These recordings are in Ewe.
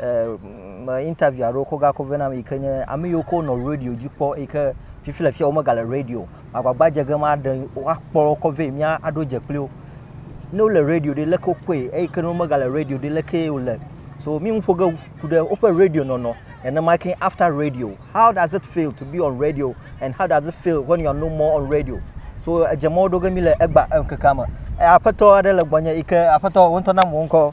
me interview aɖewo kɔ gakɔ vɛ nam yi ke nye ame yiwo ko nɔ radio dzi kpɔ yi ke fifi le fiya womegale radio o. Magbagba dze ge maɖe woakpɔ wo kɔ vɛ mía aɖo dze kpli wo. Ne wo le radio ɖe leke wokpɔe eyi ke ne womegale radio ɖe lekee wo le. So mí nu ƒo ge ku ɖe woƒe radio nɔnɔ nenema ke after radio how does it feel to be on radio and how does it feel when you are no more on radio. So edze mɔ wo ɖo ge mí le egba ŋkekea me. Aƒetɔ aɖe le gbɔnye yi ke aƒetɔ wo ŋutɔ na mɔ ŋkɔ.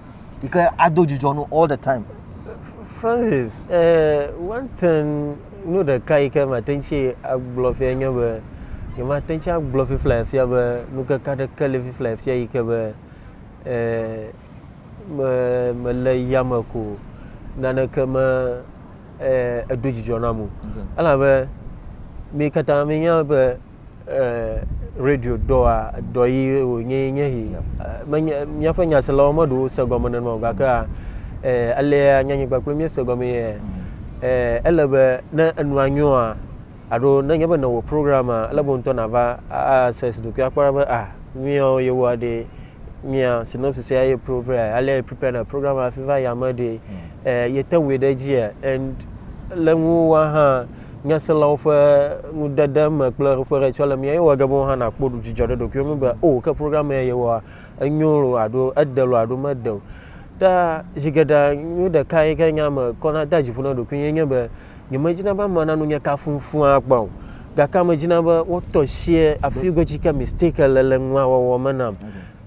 yi ke ado dzidzɔ no all the time. Francis, eh, one thing nu ɖeka yi ke mate ŋu tsi agblɔ fia nye be nyemate ŋu tsi agblɔ fifla fia be nukeke aɖeke le fifla fia yi ke be eh, me mele yame ko naneke me eh, edo dzidzɔ nam o. Okay. Elabe mi katã minya be radio dɔa dɔ yi wònye nye yi menye míaƒe nyaselawo meɖo wose gɔme nenema o gakea alea nyanyigba kple míese gɔme yɛ ele be ne enua nyoa alo ne nye be newɔ programa ele be ŋutɔ nava ase si ɖokui akpɔ be a míawo yewoa ɖe mía synopsis ya ye prepare alea ye prepare na programa hafi va yame ɖe yete wui ɖe dzia and le ŋuwa hã Nyaselawo ƒe nudede me kple ƒe ɖe tsɔ le mía ye wɔ ge be wo hã na kpɔ ɖu dzidzɔ ɖe ɖokuiwo ŋu be o ke program ya ye wɔa enyo lo alo ede lo alo mede o. Ta zi geɖe nu ɖeka yi ke nya me kɔ na da dziƒo na ɖokui ye nye be nye me dzi na be ame na nu nye kafu ŋfu akpa o. Gake me dzi na be wo tɔ sie afi go tsi ke mistake le le nua wɔwɔ me nam.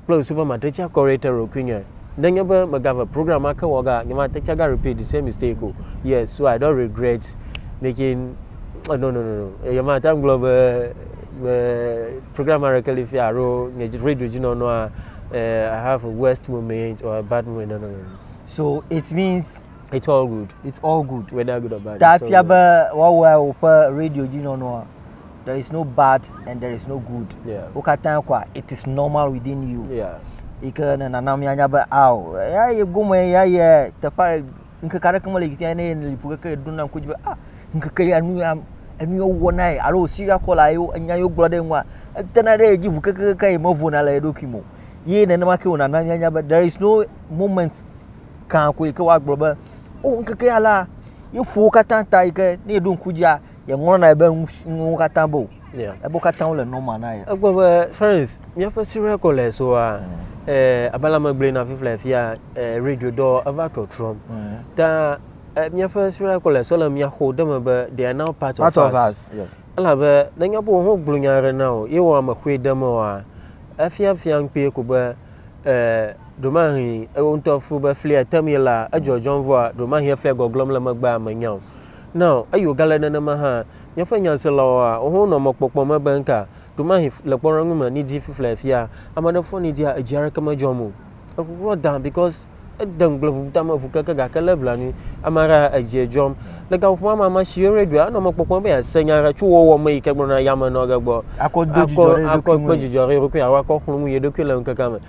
kple ŋsu be mate ŋu acorrect ɖokuinye nenye be megave program ma ke wɔga nye mate ŋu aga repeat the same mistake o yes so I don't regret making no no no no eye mate ŋu agblɔ be be program aɖeke li fia alo nye radio dzi nɔnɔa uh, I have a worst moment or a bad moment no no no no so it means it's all good it's all good whether good or bad ta it's all fia good. be woawɔe woƒe radio dzi nɔnɔa there is no bad and there is no good yeah. wo katã kɔa it is normal within you yeah. yi ke ne nana mianya be ao ya ye gome ya ye teƒe ŋkeke aɖeke mele yi ke ne lipo keke ɖo na ŋku dzi be ah ŋkeke ya nu ya enu yewo wɔ na ye alo siria kɔla yewo nya yewo gblɔ ɖe ŋua etena ɖe edzi ʋu kekekeke yi mevona le eɖokui mo ye nenema ke wònana mianya be there is no moment kan ko yi ke woagblɔ be o oh, ŋkeke ya la yeƒowo katã ta yi ke ne eɖo ŋku dzia Yeŋlɔ na ye be nuwo katã be o. Ebo katã wole nɔma na ye. Egbɔ be Florence, míaƒe Syria College-soa, mm. eh, abe la megblɔe na fifla afia eh, radio dɔ eva trɔtrɔm. Mm. Ta eh, míaƒe Syria College-so le mía xɔ ɖe me be they are now part, part of, of us. us. Yes. Elabe nenye be wo gblɔ nya aɖe na o, ye wɔ ame xoe ɖe me oa, efia fia ŋkpee ko be eh, ɖomahi ewo ŋutɔ fu be flia tem ye la edzɔdzɔm vɔa ɖomahi efia gɔglɔm le megbea menya o. Na o, eye wògale nenema hã. Míaƒe nyaselawoa, woawo hã nɔa mɔkpɔkpɔ me be ŋka ɖomahi le kpɔɖeŋu me ni dzi fiflea fia. Ame aɖe fɔ ni dzia, edzi aɖeke medzɔm o. Eŋuŋua dã because ede ŋugble ŋu ta me ŋu keke gake lé blanui. Ame aɖe hã edzia dzɔm. Le gaƒoƒo ma me, ame si yɔ radioa, enɔ mɔkpɔkpɔ me be yease nya aɖe tso wɔwɔ me yi ke gblɔna yame nɔ ge gbɔ. Akɔ do dzidzɔ ɖe eɖokui ŋu. Akɔ kpɔ dzidzɔ ɖe eɖokui alo akɔ xlɔ̃ nu yeɖokui le ŋkekea me.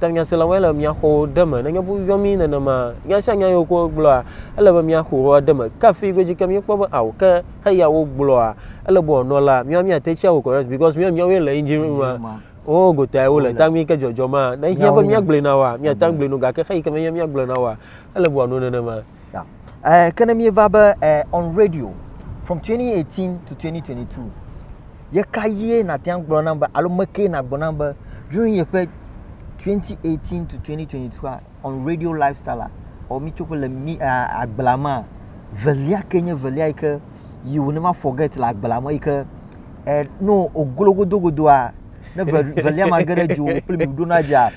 Ta nyaselawoe le mía xɔwo ɖe eme. Nenye be woyɔ mí nenema, nya sia nya yi wokɔ gblɔa, ele be mía xɔwo ɖe eme. Ke afi godzi ke míekpɔ be ao ke heya wogblɔa, ele be wòanɔ la, míawo míate tsi awu correct because míawo míawoe le engine room ma. Wo gotae wole ta mí ke dzɔdzɔmaa. Ne ehiã be míagblɔe na woa, míate ŋu agblɔe na wo gake xeyi ke menye be míagblɔe na woa, ele be wòanɔ nenema. Yeah. Uh, ke ne míeva be uh, on radio from 2018 to 2022 ye ka yie nàte ŋu gblɔ nam be alo mekee nàgblɔ nam be during yeƒe 2018 to 2022 on radio lifestyle ɔ mi tso le mi agbla ma velia ke nye velia yi ke you will never forget le agbla ma yi ke ɛ no ogologodogodoa ne velia ma ge ɖe dziwò kple mi ɖona dzia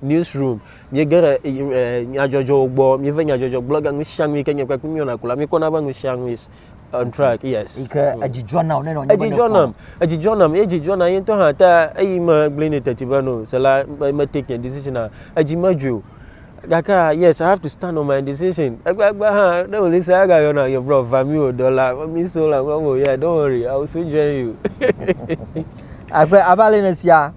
newsroom, míege ɖe e, nyadzɔdzɔwo gbɔ, míeve nyadzɔdzɔ gblɔ ga nusianu yi ke nye kpekpe míwɔna ko la, míkpɔna be nusianu is on track, yes. Yi ke mm. edzidzɔ nam ne nɔ nye Edzidzɔ nam, edzidzɔ nam, ye edzidzɔ nam ye ŋutɔ hã ta eyi me gblẽ ne teti be no, se la me take nye decision a, edzi medzui o. Gake yes, I have to stand on my decision. Egbegbe hã, ne wòli se aga yɔna nye brɔ va mi wò dɔ la, mi so la, mi wò, yeah, don't worry, I will soon join you. Abe abe ale ne sia.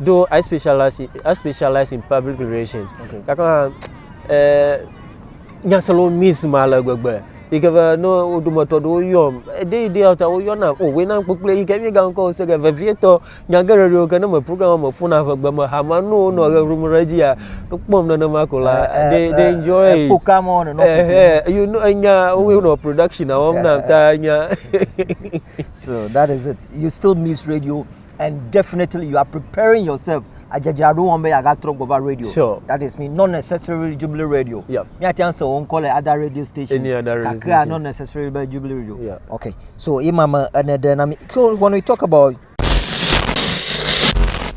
Though I specialize in, I specialize in public relations. Okay. Gake hã eh, nya se le miss ma le gbegbe. Yi ke be ne wo dometɔ ɖewo yɔm, ɖe yi ɖe ta woyɔna o oh, wena kpekple yi ke mi ga ŋkɔ se ke vevietɔ nya geɖe ɖewo ke ne me program me ƒona ƒe gbe me hama no wo nɔ ʋe ʋum ɖe dzia kpɔm nenema ko la eh, eh, they eh, they enjoy it. Poka mo ne no. Eh, you know nya wo no production awom na ta nya. So that is it. You still miss radio. and definitely you are preparing yourself adzadzraɖo wɔm be yeagatrɔ gbɔ va radio sure. that is me not necessarily jubilee radio yep. míate ŋu se wo ŋkɔ le other radio stations kakea not necessarily be jubilee radio yep. okay so ima me ene ɖe na mi so when we talk about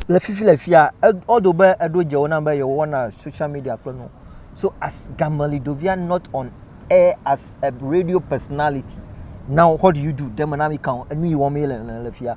le fifi le fia ɔdo be eɖo dze wo na be yewɔna social media kple nu so as gamali dovia not on air as a radio personality now what do you do deme na mi kan enu yi wɔm ye le le fia.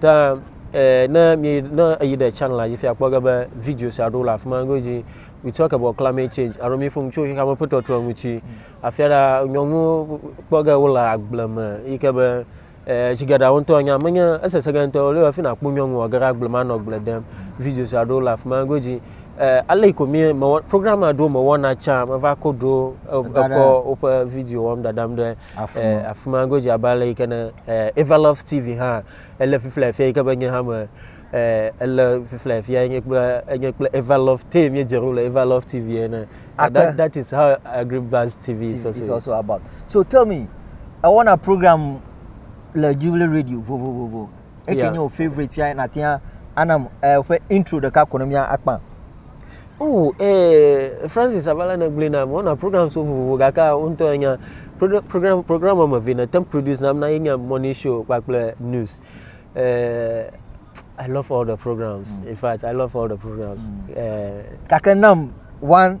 Ta eh, ne mi ne eyi ɖe channel la dzi fia kpɔ ge be video sia ɖo le afi ma godzi. We talk about climate change alo mi ƒo nu tso xexea me ƒe tɔtrɔ ŋuti. Afia ɖa nyɔnu kpɔ ge wo le agble me yi ke be eh, tsi geɖe wo ŋutɔ enya menye esese ge ŋutɔ le afi na kpɔ nyɔnu wɔ ge ɖe agble ma nɔ agble dem. Video sia ɖo le afi ma godzi. Eh, ale yi ko mi mewɔ program aɖewo mewɔna tsa meva ko ɖo eh, ekɔ woƒe video wɔm dadam ɖe afima. Afima godzi abe ale yike ne Eva Love TV hã ele fifla efia yike be nye hã me ele fifla efia enye kple enye kple Eva Love Tay mi dzero le Eva Love TV ene. That, that is how Agribaz TV, TV is also, is also about. So tell me, I want a program le Jubilee Radio vovovovo. eke yeah. nye wò favorite fia nàte ŋu anam eƒe eh, intro ɖeka ko ne mía akpa. Oh, eh, Francis Avala ne gblẽ na wɔna program so vovovo gake wo ŋutɔ enya program program wɔme eve ne tem produce nam na ye nye morning show kpakple news. Eh, I love all the programs. Mm. In fact, I love all the programs. Mm. Eh, gake nam one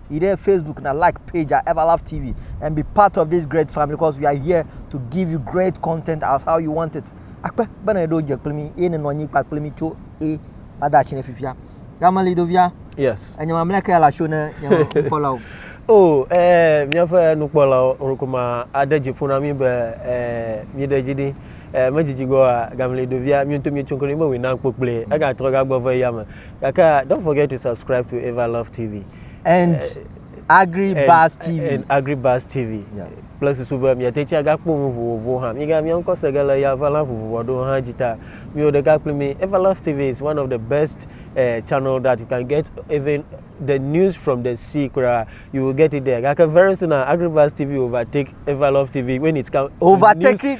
yi ɖe Facebook na like page a Everlove TV and be part of this great family because we are here to give you great content as how you want it. Akpe bena eɖo dze kple mi eye nenɔ anyi kpakple mi tso e ada atsi ne fifia. Gamali ɖovia. Yes. Enye mamlɛ ke la sho ne nye nukpɔlawo. o eh, míaƒe nukpɔlawo ŋkuma ade dzi ƒo na mí be eh, míɖe dzi ɖi eh, medzidzi gɔa gamli ɖovia míoto míetso kple mí be wòna kpokpli egatrɔ gagbɔ ve ya me Gake don't forget to subscribe to Eva Love TV. And Agri Buzz TV. And Agri Buzz TV. Yeah. kple susu be miate tsi agakpɔ nu vovovowo hã miga mia ŋkɔ se ge le ya va la vovovo aɖewo hã dzi ta miwo ɖeka kpli mi everlove tv is one of the best uh, channel that you can get even the news from the sea kura you will get it there gake very soon now uh, agribas tv overtake everlove tv when it come overtake it